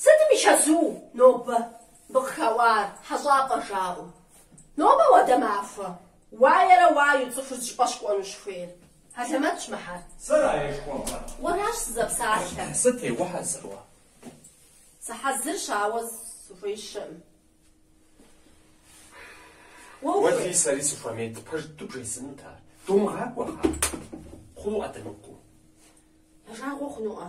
Сытым и чэзу нобэ мы къыхэуар хьэщӏапӏэ жаӏэу? Нобэ хуэдэ махуэ уаерэ уаеу цӏыхур зыщӏыпӏэ щыкӏуэну щыхуейр? Хьэлэмэтщ мыхьэр. Сэра жыхуэпӏэр? Уэращ сызэпсалъэр. Сыт, ухьэзыр уэ? Сыхьэзырщ, ауэ сыхуеищэӏым. Уэ ухуей? Уэлэхьи сэри сыхуэмейт, пэж дыдэу бжесӏэнут ар. Думыгъакӏуэ, кхъа. Хъунуӏэ дымыкӏуэу? Я жагъуэ хъунуӏэ?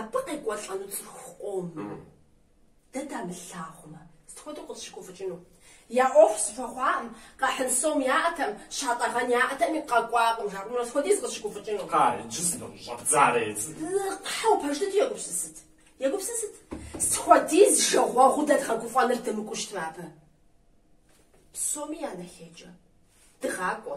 Абы къекӏуэлӏэну цӏыху къомым дэ дамылъагъумэ, сыт хуэдэу къытщыгуфӏыкӏыну? Я ӏуэху зэхуэхъуакъым, къахьын сом яӏэтэм, щатӏэгъэн яӏэтэми, къэкӏуакъым, жаӏэурэ сыт хуэдиз къытщыгуфӏыкӏыну? Кхъа, иджы сынэӏущӏэбдзарэ езы. Кхъа, уэ пэж дыдэу егупсысыт, егупсысыт, сыт хуэдиз жагъуэгъуу дэ дгъэгуфӏэныр дымыкӏуэу щытмэ абы. Псоми я нэхъейкӏэ дыгъакӏуэ.